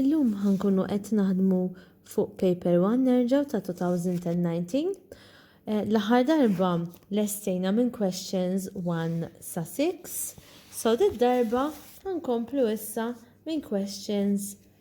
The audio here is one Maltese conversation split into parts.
Illum ħa nkunu qed naħdmu fuq Paper One nerġgħu ta' 2019. Eh, l-aħħar darba lestejna minn questions 1 sa 6, so darba ħankomplu issa minn questions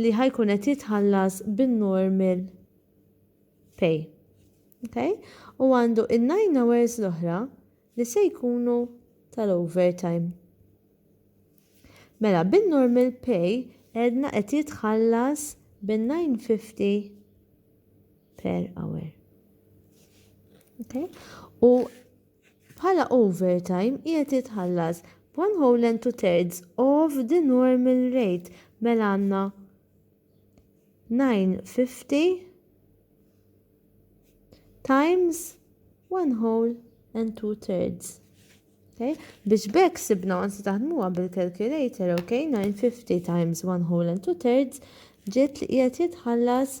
li ħa jkun qed jitħallas bin-normal pay. Okay? U għandu in-nine hours l-oħra li se jkunu tal-overtime. Mela, bin-normal pay għedna qed jitħallas bin-950 per hour. Okay? U Bħala overtime qiegħed jitħallas b' one whole and two thirds of the normal rate mela għandna 950 times one whole and two thirds. Okay? Biex b'hekk sibna għansi taħdmuha bil-calculator, okay? 950 times one whole and two thirds ġiet li qiegħed jitħallas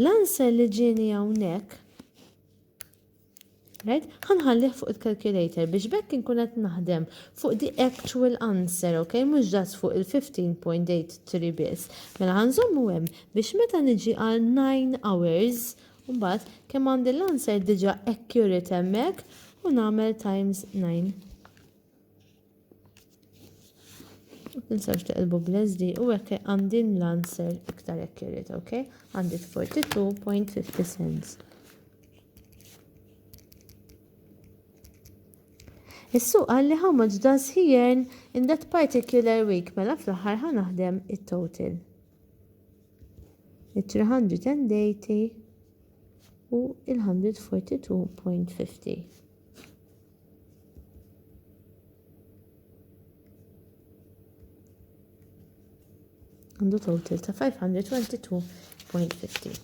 L-answer li ġieni hawnhekk right? Ħanħallih fuq il-calculator biex bekk inkun qed naħdem fuq the actual answer, ok? Mhux ġas fuq il-15.83 biss. Mela ħanżommu hemm biex meta niġi għal 9 hours, mbagħad kemm għandi l-answer diġà accurate hemmhekk u nagħmel times 9. Tinsawx teqilbu bl-SD u hekk għandin l-answer iktar hekk irrid, ok? Għandit 42.50 cents. Is-suq għalli how much does he earn in that particular week mela fl-aħħar ħa naħdem it-total. Il-380 u il-142.50. għandu total ta' 522.50.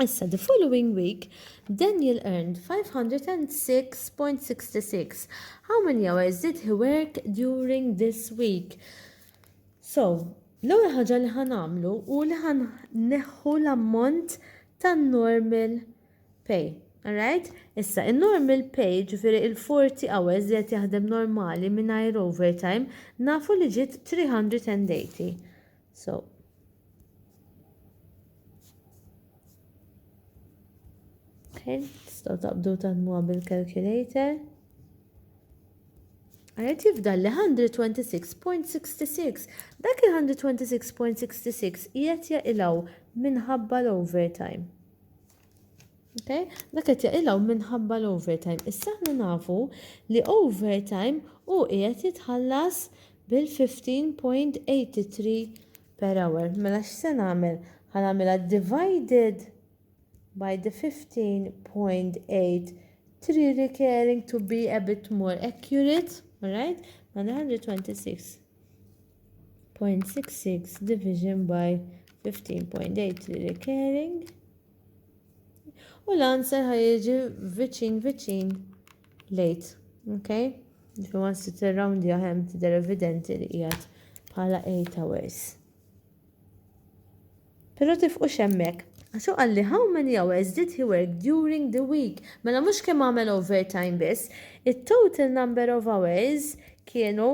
Issa, the following week, Daniel earned 506.66. How many hours did he work during this week? So, l-ewwel ħaġa li ħanamlu u li ħan neħħu l-ammont tan-normal Pay. Alright? Issa, in-normal pay, jiġifieri il-40 hours li qed jaħdem normali mingħajr overtime, nafu li ġiet 380. So, Okay, tistgħu taqbdu taħdmuha bil-calculator. Għajet jifdal li 126.66. Dak il-126.66 jgħet jaqilaw minħabba l-overtime. Okay? Dak qed jaqilgħu minħabba l-overtime. Issa aħna nafu li overtime u qiegħed jitħallas bil-15.83 per hour. Mela x'se nagħmel? Ħanagħmilha divided by the 15.83 recurring to be a bit more accurate, alright? Mela 126. 0.66 division by 15.8 li recurring u l-answer ħajġi viċin viċin lejt. Okay? Ġifi ma nsi t-round jahem t-der evidenti li jgħat bħala 8 hours. Pero tifqu xemmek, għaxu għalli how many hours did he work during the week? Mela mux kem għamel overtime biss, it-total number of hours kienu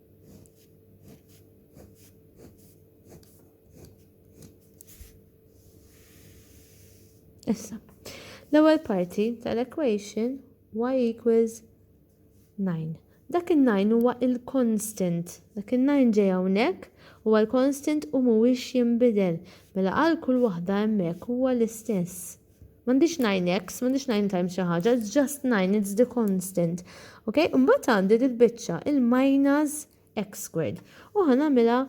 Issa, l-ewwel parti tal-equation y equals 9. Dak il-9 huwa il-constant. Dak il-9 ġej hawnhekk huwa l-constant u mhuwiex jinbidel. Mela għal kull waħda hemmhekk huwa l-istess. M'għandix nine x, m'għandix nine times xi ħaġa, it's just nine, it's the constant. Ok? Imbagħad għandi dil-biċċa, il-minus x squared. U ħanamilha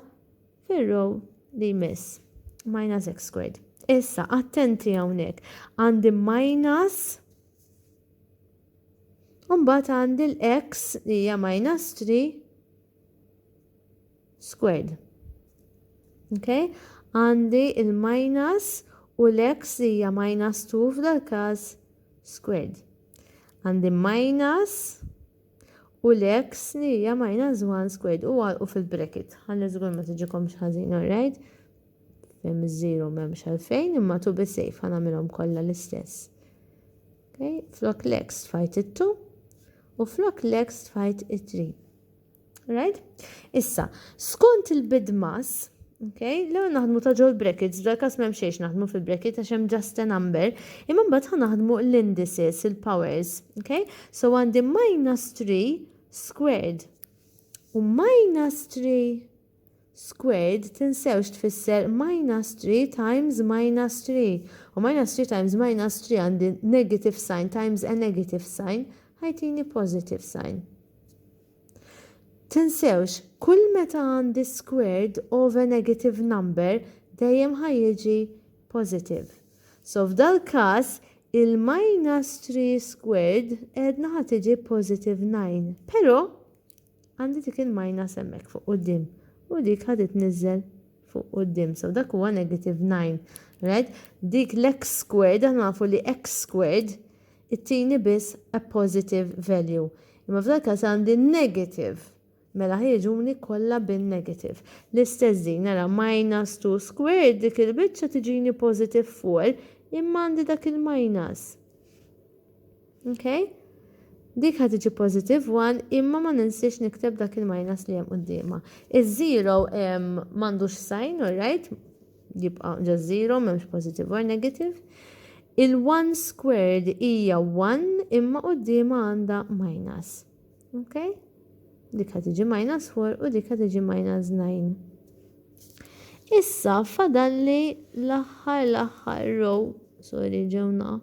fir-row li jmiss. Minus x squared. Issa, attenti hawnhekk. Għandi minus Umbat għandi l-x li hija minus 3 squared. Okay? Għandi il-minus u l-x li hija minus 2 f'dal-każ squared. Għandi minus u l-x li hija minus 1 squared u għalqu fil-bracket. Għalli żgur ma tiġikom xħazin, alright? Fem iż-żiru m'hemmx għalfejn, imma tu bi sejf ħanamilhom kollha l-istess. Okay? Flok l-x tfajt it-2 u flok l-x tfajt it-3. Right? Issa, skont il-bidmas, Okay? L-ewwel naħdmu ta' ġol brackets, f'dal każ m'hemm xejn naħdmu fil-bracket għax hemm just a number, imma mbagħad ħa naħdmu l-indices, il-powers, okay? So għandi minus 3 squared u minus 3 Squared tinsewx tfisser minus 3 times minus 3 u minus 3 times minus 3 għandi negative sign times a negative sign ħa jtini positive sign. Tinsewx, kull meta għandi squared of a negative number dejjem ħa jiġi positive. So f'dal-każ il-minus 3 squared għedna ħa tiġi positive 9. Però Għandi dik il-minus hemmhekk fuq quddiem u dik ħa titniżżel fuq quddiem. So dak huwa negative 9. Right? Dik l-x squared aħna nafu li x squared ittini biss a positive value. Imma f'dan il-każ għandi negative. Mela ħa jiġuni kollha bin-negative. L-istess din nara minus 2 squared dik il-biċċa tiġini positive 4 imma għandi dak il-minus. Okay? Dik ħad iġi positive 1 imma ma ninsiex nikteb dak il-minus li hemm qudiema. Iż-0 m'għandux sign, alright? Jibqa' ġa 0 m'hemmx positive or negative. Il-1 squared hija 1 imma qudiema għandha minus. Okay? Dik ħad iġi minus 4 u dik ħad iġi minus 9. Issa fadalli l-aħħar l-aħħar row, sorry ġewna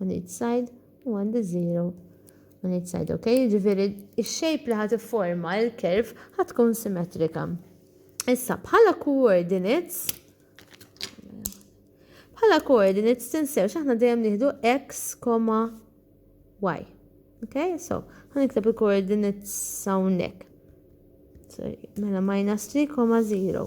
on each side u għandi 0 on each side, ok? Ġifiri, il-shape li ħat forma il-kerv ħat tkun simetrika. Issa, bħala coordinates, bħala coordinates tinsew xaħna dejjem nieħdu x, y. Ok, so, ħan ikteb il-coordinates sawnek. Sorry, mela minus 3, 0.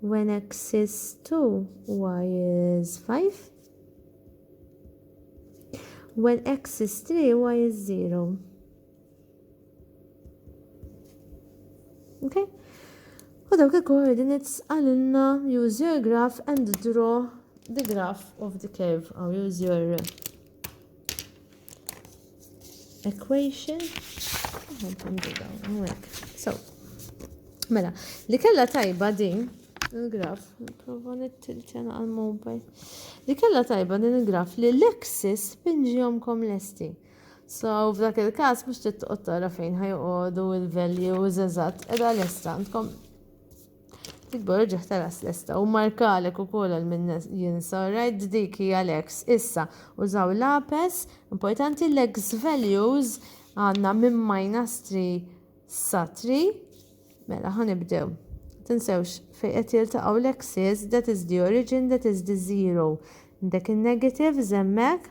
when x is 2 y is 5 when x is 3 y is 0 okay u dawk il-coordinates għalilna use your graph and draw the graph of the curve or use your equation so mela li kella tajba din il-graf nipprova nittilċena għal mobile li kella tajba din il-graf li l-axis pinġihomkom lesti So, f'dak il-kas, mux titqot tara fejn ħajqodu il-values eżat, edha l-esta, għandkom Tikber irġa' ħtaras lesta u markalek ukoll għal min jinsa, alright? Dik hija l-ex. Issa, użaw lapes, importanti l-ex values għandna minn minus 3 sa 3. Mela, ħanibdew. Tinsewx fejn qed jiltaqgħu l-exes, that is the origin, that is the zero. Dek in-negatives hemmhekk.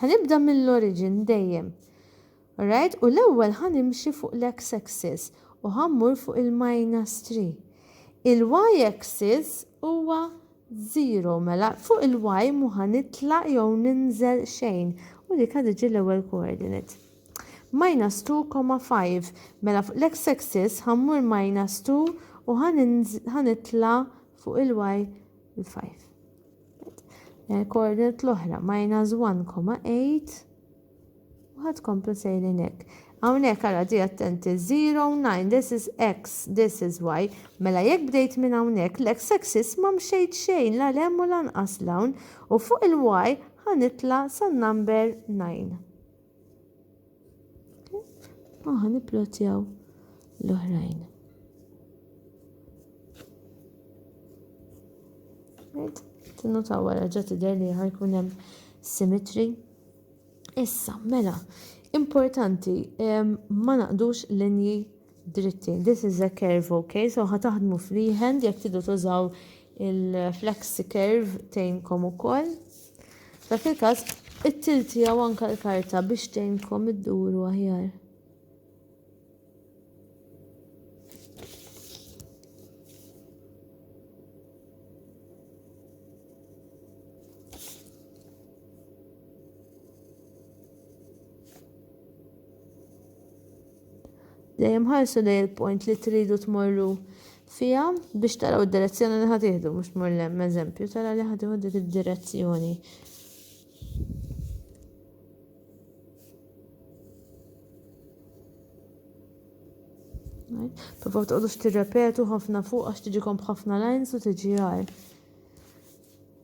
Ħanibda mill-oriġin dejjem. Alright? U l-ewwel ħa nimxi fuq l-X axis u ħa mmur fuq il-minus 3. Il-Y axis huwa 0 mela fuq il-Y mhu ħa nitla' jew ninżel xejn u dik ħa tiġi l-ewwel coordinate. Minus 2,5 mela fuq l-X axis ħa mmur minus 2 u ħa nitla' fuq il-Y il-5. l-koordinat l-oħra minus 1,8 u ħad komplu sejrin hekk. Hawnhekk ara di attenti 0, 9, this is x, this is y. Mela jekk bdejt minn hawnhekk l-x axis ma mxejt xejn la lem u lanqas l-hawn u fuq il-y ħanitla san number 9. U ħan nipplotjaw l-oħrajn. Right? Tinnotaw wara ġa tidher li ħajkun hemm symmetry. Issa, mela, importanti, ma naqdux linji dritti. This is a curve, ok? So ħataħdmu freehand, jek tidu tużaw il-flexi curve tejnkom u koll. F'dak il-każ, it-till tiegħu anka l-karta biex tgħinkom idduru aħjar. Dejjem ħarsu lej il-point li tridu tmorru fiha biex taraw id-direzzjoni li ħad tieħdu mhux tmur l-hemm eżempju tara li ħad dik id-direzzjoni. Provaw toqgħodux tirrepetu ħafna fuq għax tiġikom b'ħafna lines u tiġi għar.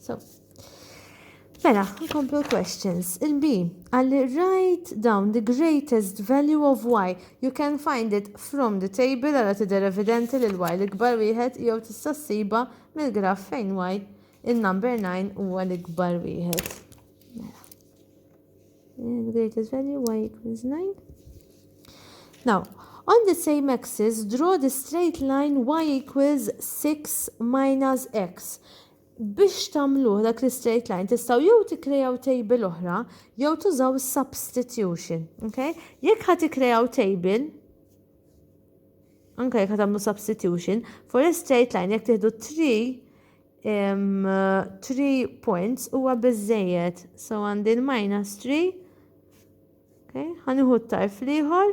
So, Mela, nkomplu questions. Il-B, għalli write down the greatest value of y. You can find it from the table għala tidher evidenti li l-y l-ikbar wieħed jew tista' ssiba mill-graf fejn y il-number 9 huwa l-ikbar wieħed. Mela. the greatest value y equals 9. Now, on the same axis, draw the straight line y equals 6 minus x. Biex tamluħ dak li straight line, tistaw jew tikrejaw table oħra, jew tużaw substitution. Okay? Jekk ħat tikrejaw table, anka jekk ħat tamlu substitution, for a straight line, jekk tiħdu 3, 3 points huwa biżżejjed. So għandi l-minus 3. Okay, ħanuħu t-tarf liħor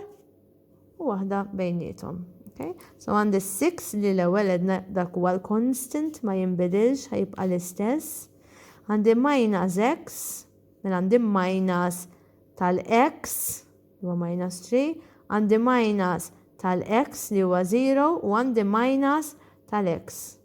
u waħda bejnietom. Okay, so għandi 6 li l-ewwel edna dak huwa l-constant ma jinbidilx ħajibqa' l-istess. Għandi minus x, mela għandi minus tal-x li huwa minus 3, għandi minus tal-x li huwa 0 u għandi minus tal-x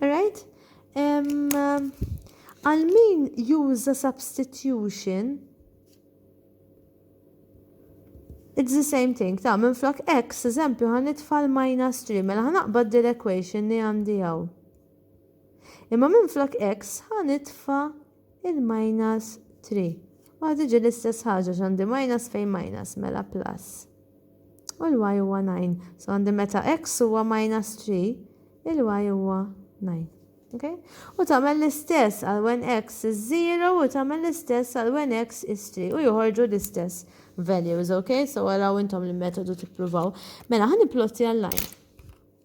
Alright? Għal min juża substitution, it's the same thing, ta' minn flok x, eżempju, għan itfall minus 3, mela għan aqbad dir equation li għandi għaw. Imma minn flok x, għan itfa' il-minus 3. U għad iġi l-istess ħaġa x'għandi minus fejn minus mela plus. U l-y huwa 9. So għandi meta x huwa minus 3, il-y huwa 9. Okay? U tagħmel l-istess għal when x is 0 u tagħmel l-istess għal when x is 3 u joħorġu l-istess values, okay? So għaraw intom l-metodu tippruvaw. Mela ħan plotti għal-line.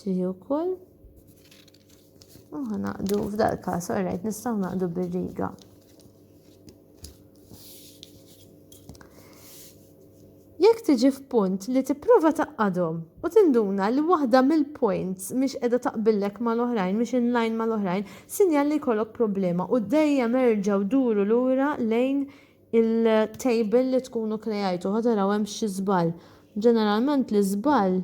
Tiħi wkoll. U ħanaqdu f'dal każ, orajt nistgħu naqdu bir-riga. Jekk tiġi f'punt li tipprova taqqadhom u tinduna li waħda mill-points mhix qiegħda taqbillek mal-oħrajn, mhix in line mal-oħrajn, sinjal li jkollok problema u dejjem erġgħu duru lura lejn il-table li tkunu krejajtu ħataraw hemm xi żball. Ġeneralment l-iżball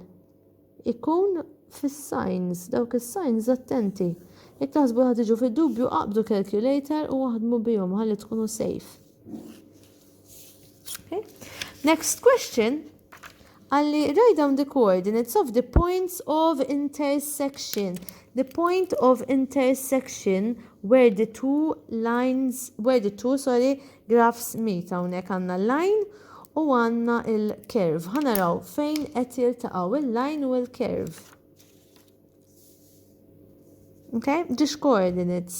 ikun fis-signs, dawk is-signs attenti. Jekk taħsbu li ħa tiġu fid-dubju qabdu calculator u aħdmu bihom ħalli tkunu safe. Okay. Next question. Għalli write down the coordinates of the points of intersection. The point of intersection where the two lines, where the two, sorry, Graphs Meet hawnhekk għandna l-line u għandna l-curve. Ħa naraw fejn qed jiltaqgħu il-line u l-curve. Okay? Ġiex coordinates.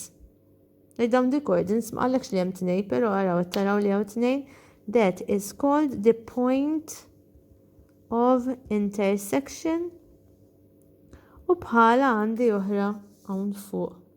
Li dawn di coordinates ma qallekx li hemm tnej, però araw qed taraw li hawn tnejn. That is called the point of intersection. U bħala għandi oħra hawn fuq.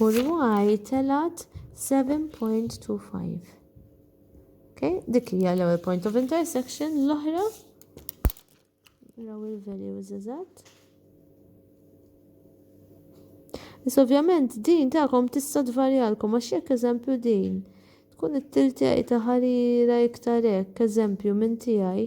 U l-y telat 7.25. Okay, dik hija l-ewwel point of intersection, l-oħra raw il-values eżatt. Is ovvjament din tagħkom tista' tvarjalkom għax jekk eżempju din tkun it-tiltej ta' ħarira iktar hekk, eżempju minn tiegħi.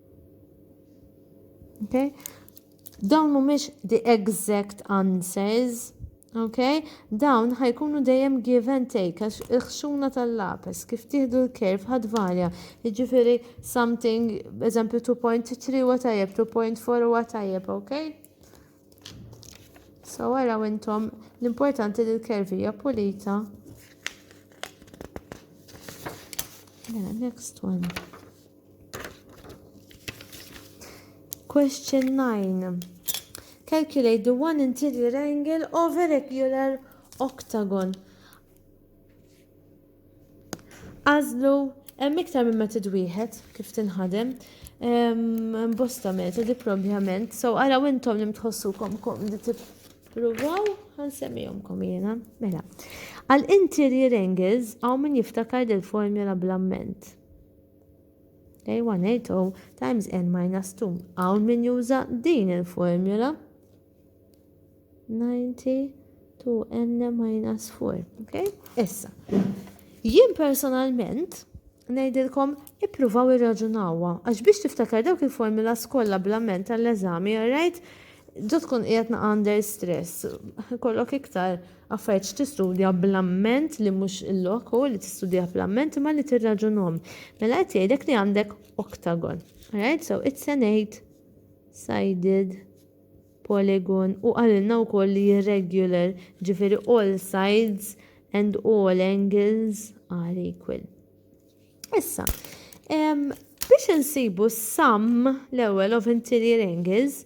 Okay? Dawn mhumiex the exact answers, okay? Dawn ħajkunu dejjem give and take, għax il-ħxuna tal-lapes, kif tieħdu l-kerf ħad varja, jiġifieri something, eżempju 2.3 huwa tajjeb, 2.4 huwa tajjeb, okay? So għara intom l-importanti li l-kervija pulita. Yeah, next one. Question 9. Calculate the one interior angle of a regular octagon. Għazlu, hemm iktar minn metod wieħed kif tinħadem. Bosta metodi probablement, so għala intom li mtħossukom kom li tippruvaw, għan semmijomkom jena. Mela, għal interior angles għaw min jiftakar del formula blamment. Okay, 180 times n minus 2. Hawn min juża din il-formula. 90 to n minus 4. Okay? Issa. Jien personalment ngħidilkom ippruvaw irraġunawha għax biex tiftakar dawk il-formula skolla bl-amment tal-eżami, right? Ġo tkun qiegħed under stress, kollok iktar Affarijiet x'tistudja bl-amment li mhux il-lok u li tistudja bl-amment imma li tirraġunhom. Mela qed jgħidlek li għandek octagon. Alright, so it's an eight sided polygon u għalilna wkoll li irregular ġifieri all sides and all angles are equal. Issa, biex insibu sum l-ewwel of interior angles,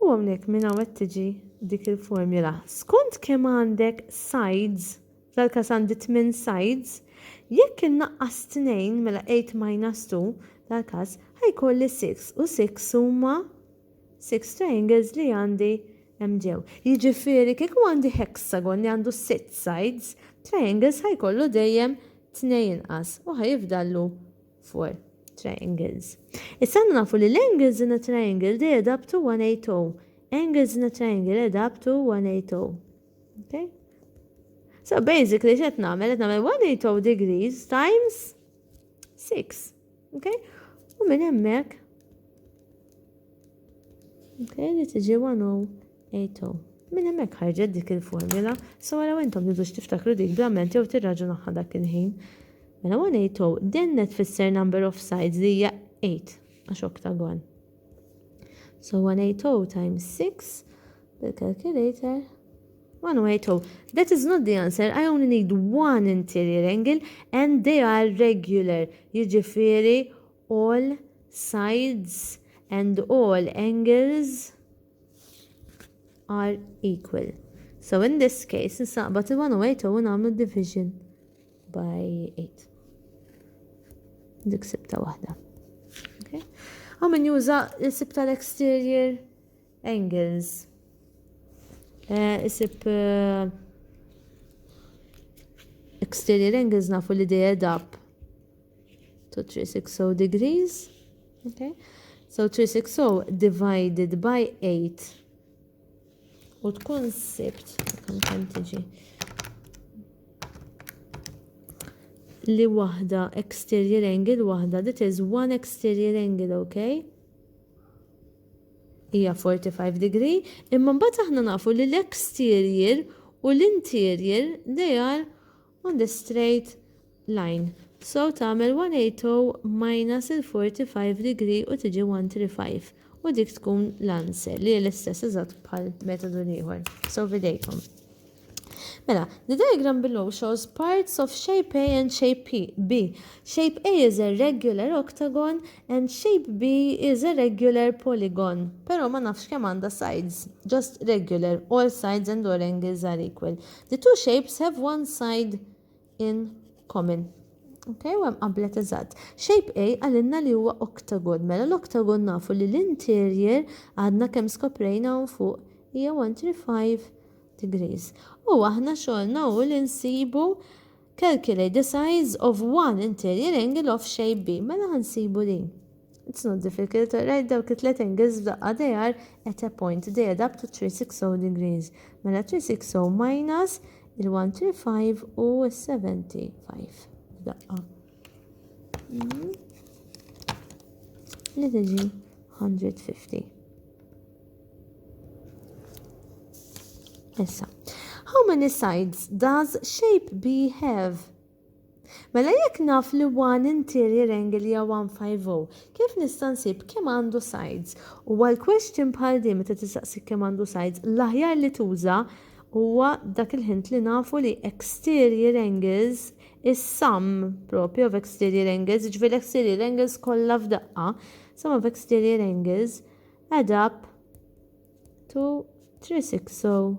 U hawnhekk minn hawn qed tiġi dik il-formula. Skont kemm għandek sides, f'dal-każ għandi tmien sides, jekk innaqqas tnejn, mela eight minus two, dal-każ, ħa jkolli six, u six huma six triangles li għandi hemm ġew. Jiġifieri kieku għandi hexagon li għandu sitt sides, triangles ħa jkollu dejjem tnejn inqas u ħa jifdallu for triangles. Issa għandna nafu li l-angles in a triangle they add up to 180. Angles in a triangle add up to 180. Okay? So basically x'qed nagħmel qed nagħmel 180 degrees times 6. Okay? U minn hemmhekk Okay, li tiġi 180 Ejto. Minn hemmhekk ħarġet dik il-formula, so għalaw intom tidux tiftakru dik bl-amment jew tirraġunaħħa dak il-ħin. Mela 1 8 o, dennet fisser number of sides li hija 8 għax oktagon. So 1 8 o times 6 bil-calculator 180. That is not the answer. I only need one interior angle and they are regular. Jiġifieri all sides and all angles are equal. So in this case, nsaqbat il-108 u namlu division by 8. Dik sibta wahda. Okay. Għaw min juża l-sib tal-exterior angles. Eh, isib eh, exterior angles nafu li dejja dab to 360 degrees. Okay? So 360 divided by 8 u tkun sibt kemm kemm tiġi li waħda exterior angle waħda that is one exterior angle okay hija 45 degree imma mbagħad aħna nafu li l-exterior u l-interior they are on the straight line so tagħmel 180 minus il-45 degree u tiġi 135 u dik tkun l-answer li hi l-istess eżatt bħall-metodu l-ieħor. So f'idejkom. Mela, the diagram below shows parts of shape A and shape B. Shape A is a regular octagon and shape B is a regular polygon. Pero ma nafx kemm għandha sides, just regular, all sides and all angles are equal. The two shapes have one side in common. Ok, u għem qablet eżatt. Shape A għalinna li huwa octagon, mela l-octagon nafu li l-interior għadna kem skoprejna un fuq hija 135 degrees. U aħna xolna u l-insibu Calculate the size of one interior angle of shape B. Mela ħansibu din. It's not difficult to write dawk it-tlet angles f'daqqa they are at a point they add up to 360 degrees. Mela 360 minus il-135 u s-75 f'daqqa. Mhm. Li tiġi 150. Issa, how many sides does shape B have? Mela jekk naf li one interior angle hija 150, kif nista' nsib kemm għandu sides? U għal question bħal din meta tistaqsik kemm għandu sides, l-aħjar li tuża huwa dak il-ħint li nafu li exterior angles is sum propju of exterior angles, ġifieri l-exterior angles kollha f'daqqa, sum of exterior angles Add up to 360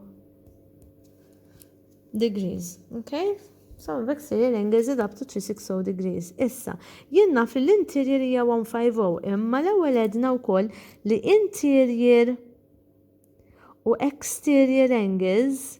degrees, okay? So, exterior angle is up to 360 degrees. Issa, jien naf li l-interior hija 150, imma l-ewwel edna wkoll li interior u exterior angles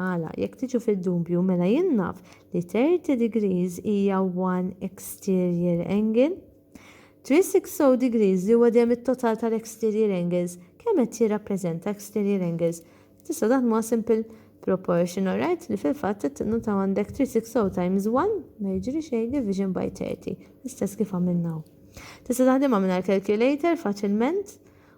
Għala, jekk tiġu fid-dubju, mela jien naf li 30 degrees hija one exterior angle. 360 degrees li huwa dejjem it-total tal-exterior angles, kemm qed jirrappreżenta exterior angles? Tistgħu taħdmuha simple proportion, alright, li fil-fatt qed tinnutaw għandek 360 times one, ma jiġri xejn, division by 30, l-istess kif għamilna hawn. Tista' taħdimha mingħajr calculator faċilment,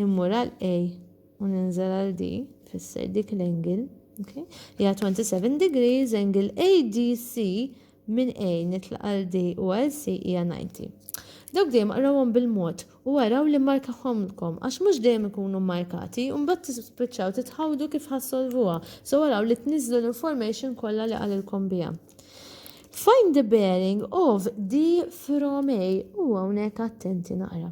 immur għal A u ninżel għal D, fisser dik l-angle, okay? Hija 27 degrees, angle ADC minn A nitlaq għal D u għal C hija 90. Dawk dejjem qrawhom bil-mod u għaraw li markahomlkom għax mhux dejjem ikunu markati u mbagħad tispiċċaw titħawdu kif ħassolvuha. So għaraw li tniżlu l-information kollha li qalilkom biha. Find the bearing of D from A u hawnhekk attenti naqra.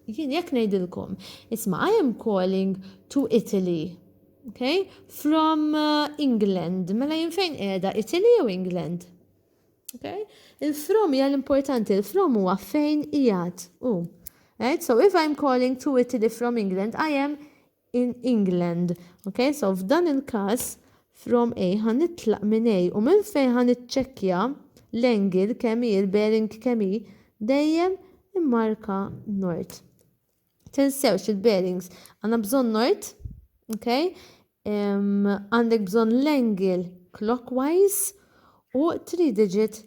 Jien jekk ngħidilkom, isma' I am calling to Italy, okay, from uh, England, mela jien fejn qiegħda Italy jew England? Okay? Il-from hija l-importanti, il-from huwa fejn qiegħed u. Right? So if I'm calling to Italy from England, I am in England. Ok, so f'dan il-każ from A ħa nitlaq minn A u minn fejn ħa niċċekkja l-angle kemm hi, il-bearing kemm hi, dejjem immarka nord. Tinsewx il-bearings għandna bżonn nord, ok? Għandek bżonn l-angle clockwise u 3 digit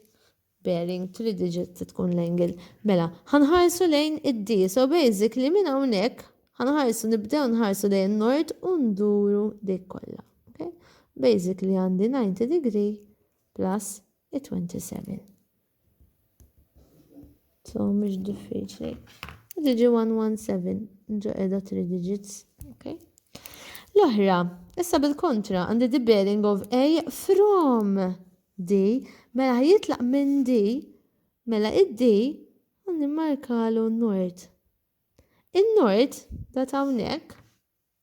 bearing three digit se tkun l-angle. Mela, ħa nħarsu lejn id-D, so basically minn hawnhekk ħa nħarsu nibdew nħarsu lejn in-Nord u nduru dik kollha. Okay? Basically għandi 90 degree plus it-27. So mhux diffiċli. Diġi 117 ġo edha 3 digits. Okay. L-oħra, issa bil-kontra għandi the bearing of A from D, mela ħa jitlaq minn D, mela id-D ħa nimmarkalu n-nord. In-nord, da hawnhekk,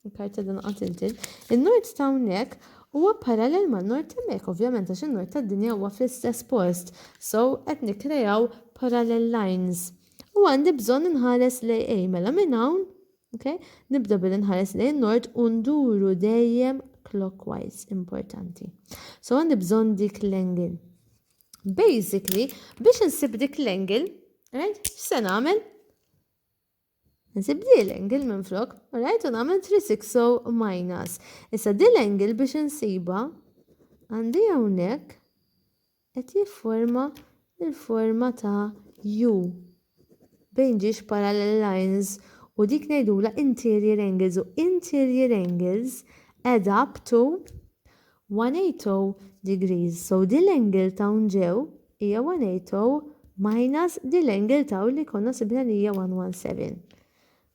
il-karta dan qatiltin, in-nord ta' hawnhekk huwa parallel man-nord hemmhekk, ovvjament għax in-nord tad-dinja huwa fl-istess post. So qed nikkrejaw parallel lines. U għandi bżonn inħares lejn A, mela minn hawn Okay? Nibda billi nħares lejn nord u nduru dejjem clockwise importanti. So għandi bżonn dik l-angle. Basically, biex nsib dik l-angle, right? Se nagħmel? Nsib di l-angle minn flok, right? U nagħmel 360 minus. Issa di l-angle biex nsiba għandi hawnhekk qed jifforma l-forma ta' U bejn ġiex parallel lines u dik ngħidulha interior angles u interior angles add up to 180 degrees. So din l-angle ta' hawn ġew hija 180 minus din l-angle ta' hawn li konna sibna li hija 117.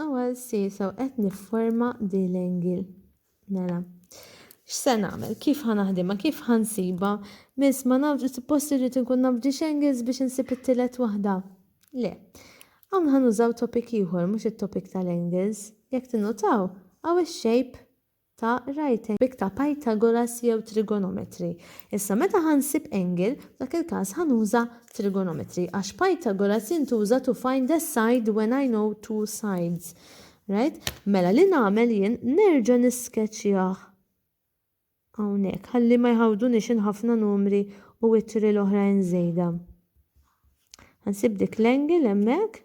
Ewwel sisa u qed nifforma di l-angle. Mela. X'se nagħmel? Kif ħa naħdimha? Kif ħa nsibha? Miss ma nafx, suppost irrid inkun naf ġiex angles biex insib it-tielet waħda. Le. Hawn ħa nużaw topic ieħor mhux it-topic tal-angles. Jekk tinnutaw, hawn ix-shape ta' right angle b'ta' Pythagoras jew trigonometry. Issa meta ħa nsib angle, f'dak il-każ ħa nuża trigonometry għax Pythagoras jintuża to find a side when I know two sides. Right? Mela li nagħmel jien nerġa' niskeċjah hawnhekk ħalli ma jħawdunix in ħafna numri u ittri l-oħrajn żejda. Ħa nsib dik l-angle hemmhekk.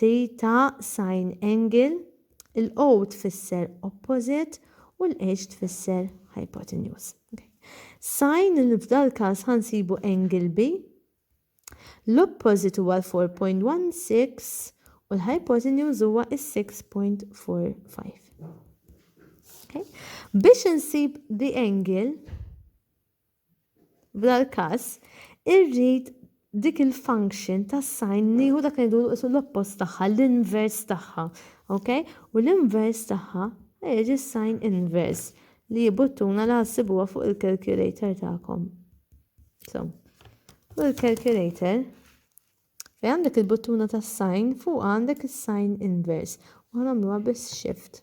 Theta Sin Angle, il-O tfisser opposite u l-H tfisser hypotenuse. Sin li f'dal-każ ħa nsibu angle B. L-opposite huwa l-4.16 u l-hypotenuse huwa is-6.45. Biex insib the angle, F'dal każ, irrid dik il-function tas-sign nieħu dak li ngħidulu isu l-oppost tagħha, l-invers tagħha, ok? U l-invers tagħha jiġi s-sign invers li jibuttuna li ħassibuha fuq il-calculator tagħkom. So, fuq il-calculator, fej għandek il-buttuna tas-sign, fuq għandek is-sign invers. U ħanamluha bis-shift.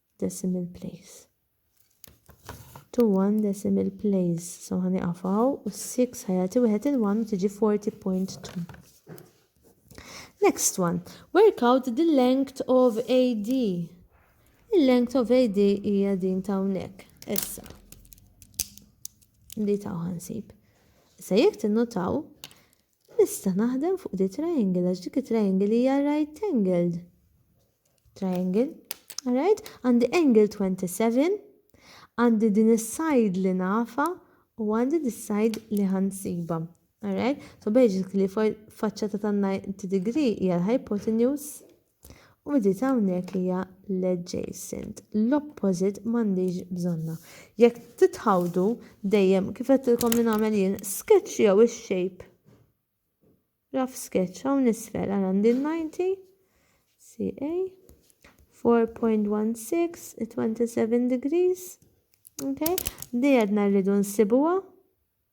decimal place. To one decimal place. So ħani qafaw u 6 ħajati wieħed il-1 u tiġi 40.2. Next one. Work out the length of AD. Il-length of AD hija din ta' hawnhekk. Issa. Li ta' ħansib. Issa jekk tinnotaw Nista' naħdem fuq di triangle għax dik it-triangle hija right angled. Triangle. Alright? Għandi angle 27, għandi din is-side li nafa u għandi din is-side li ħansiba. Alright? So basically faċċata ta' 90 degree hija l-hypotenuse U bdiet hawnhekk li hija l-adjacent. L-opposite m'għandix bżonna. Jekk titħawdu dejjem kif qedtilkom li nagħmel jien, sketch jew ix-shape. Raf sketch hawn isfel għal għandi 90 CA 4.16 27 degrees. Okay? Di għedna rridu nsibuha.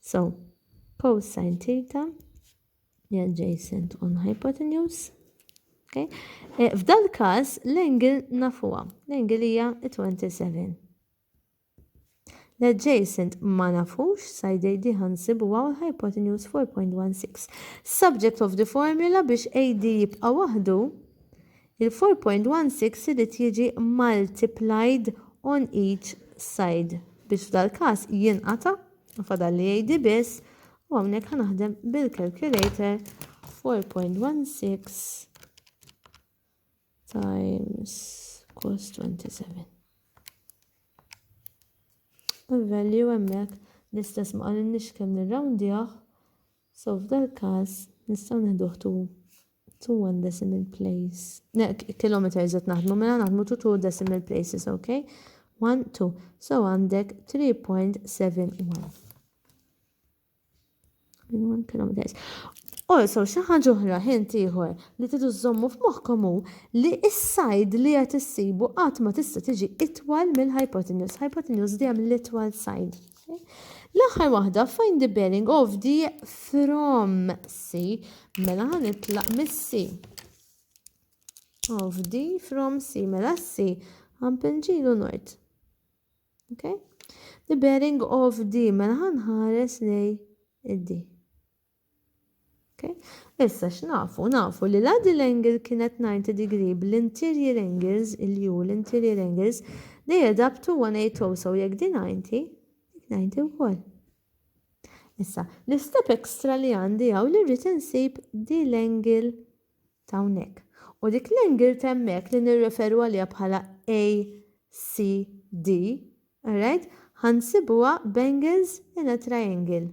So, cosine theta li adjacent on hypotenuse. Okay? Eh, f'dal każ l-angle nafuha, l-angle hija 27. L-adjacent ma nafux, side AD ħansibu għaw hypotenuse 4.16. Subject of the formula biex AD jibqa waħdu, Il-4.16 irid jiġi multiplied on each side biex f'dal-każ jinqata', u fadal li jgħidi biss, u hawnhekk ħa naħdem bil-calculator 4.16 times cos 27. Il-value hemmhekk l-istess ma qalilniex kemm nirrawndjah, So f'dal każ nistgħu neħduh to two one decimal place. Kilometers qed naħdmu mela naħdmu to two decimal places, ok? One, two. So għandek 3.71. One kilometers. Also, xi ħaġa oħra ħint ieħor li tidu żommu f'moħħkom hu li s-sajd li qed issibu qatt ma tista' tiġi itwal mill-hypotenuse. Hypotenuse dejjem l-itwal sajd. L-aħħar waħda find the bearing of the from C. Mela ħan itlaq mis-C. Of the from C. Mela C. Għan pinġilu nort. Okay? The bearing of D. Mela ħan ħares li id-D. Okay? Issa x'nafu? Nafu li la din l-angle kienet 90 degree bl-interior angles, il-u l-interior angles, they add up to 180, so jekk di 90, dik 90 wkoll. Issa, l-istep extra li għandi hawn li rrid insib di l-angle ta' hawnhekk. U dik l-angle temmek li nirreferu għaliha bħala ACD, alright? Ħansibuha b'angles in a triangle.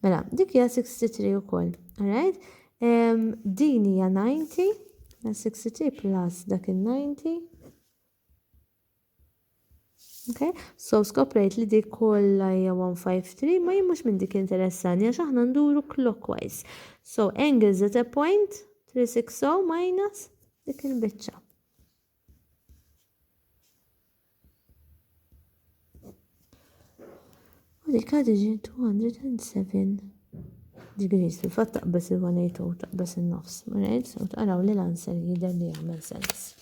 Mela, dik hija 63 ukoll, alright? Din hija 90, 63 plus dak il-90. Okay? So skoprejt li dik kollha hija 153 ma jien mhux minn dik interessani għax aħna nduru clockwise. So angles at a point 360 minus dik il-biċċa. U dik għadi ġi 207 degrees. Fil-fatt taqbes il-180 u taqbes il-nofs. Right? U taqraw li l-answer jider li għamil sens.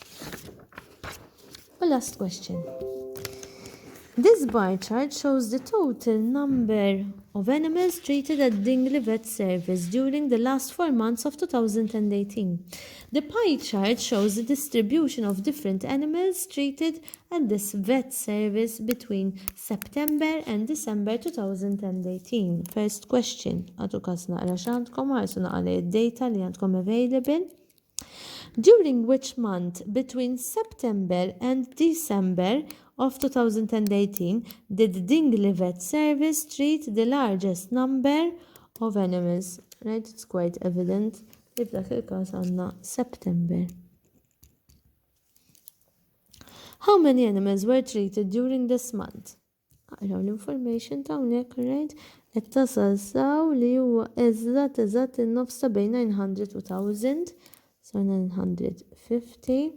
U last question. This bar chart shows the total number of animals treated at Dingli Vet Service during the last four months of 2018. The pie chart shows the distribution of different animals treated at this vet service between September and December 2018. First question, għatu kas naqra x'għandkom ħarsu naqra li id-data li għandkom available. During which month between September and December of 2018 did Dingli Vet Service treat the largest number of animals? Right, it's quite evident. li f'dak il-każ għandna September. How many animals were treated during this month? Aqraw l-information ta' hawnhekk rajt qed tasal saw li huwa eżatt eżatt in-nofs ta' bejn 900 u 1000 sa 950.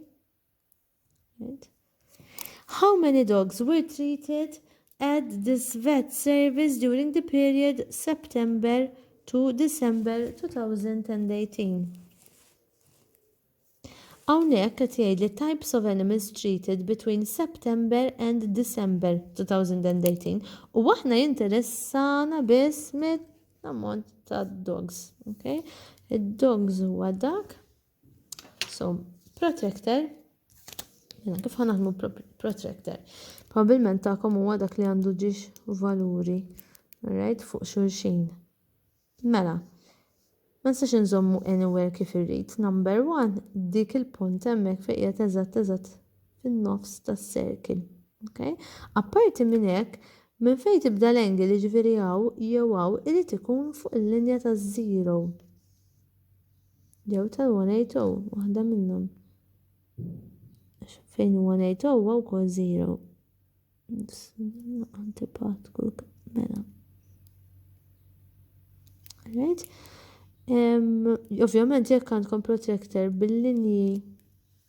How many dogs were treated at this vet service during the period September to December 2018? Hawnhekk qed jgħid li types of animals treated between September and December 2018 u aħna jinteressana biss mit-ammont ta' dogs. Okay? Id-dogs huwa dak So, protractor, jena kif ħanaħmu protractor? Probabilment ta'kom huwa dak li għandu ġiex valuri, right, fuq xulxin. Mela, ma nistax nżommu anywhere kif irrid. Number one, dik il-punt hemmhekk fejn qiegħed eżatt eżatt fin-nofs tas-circle. Okay? Apparti minn hekk, minn fejn tibda l-angle jiġifieri hawn jew hawn irid ikun fuq il-linja taż-zero. Jew ta' 180, waħda minnhom. Għax fejn 180 huwa wkoll 0. Antipat kull mela. Right? Ovvjament jekk għandkom protractor bil-linji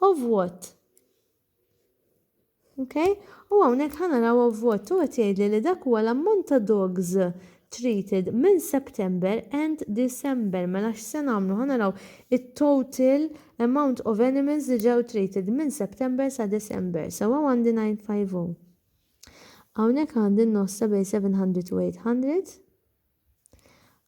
of what? Ok? U hawnhekk ħa naraw of what u qed jgħidli li dak huwa l-ammont ta' dogs treated minn September and December. Mela x'se nagħmlu? Ħa naraw it-total amount of animals li ġew treated minn September sa December. So hawn għandi 950. Hawnhekk għandi n-nossa bejn 700 u 800.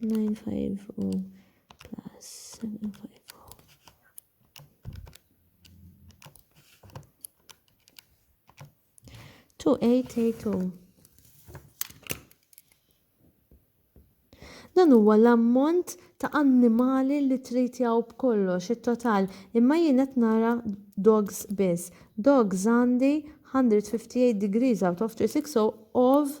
950 plus 750. Two eight eight two. Oh. Dan huwa l-ammont ta' annimali li trid jaw b'kollox it-total, imma jien qed nara dogs biss. Dogs għandi 158 degrees out of 360 of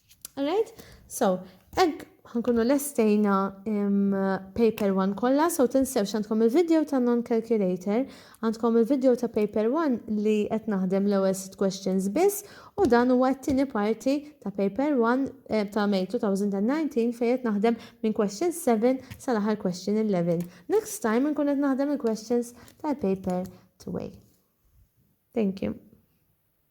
Alright, so, egg ħankunu lestejna paper 1 kollha, so tinsewx għandkom il-video ta' non-calculator, għandkom il-video ta' paper 1 li qed naħdem l-ewwel sit questions biss u dan huwa t-tieni parti ta' paper 1 eh, ta' May 2019 fejn qed naħdem minn question 7 sal-aħħar question 11. Next time nkun qed naħdem il-questions tal-paper 2 Thank you.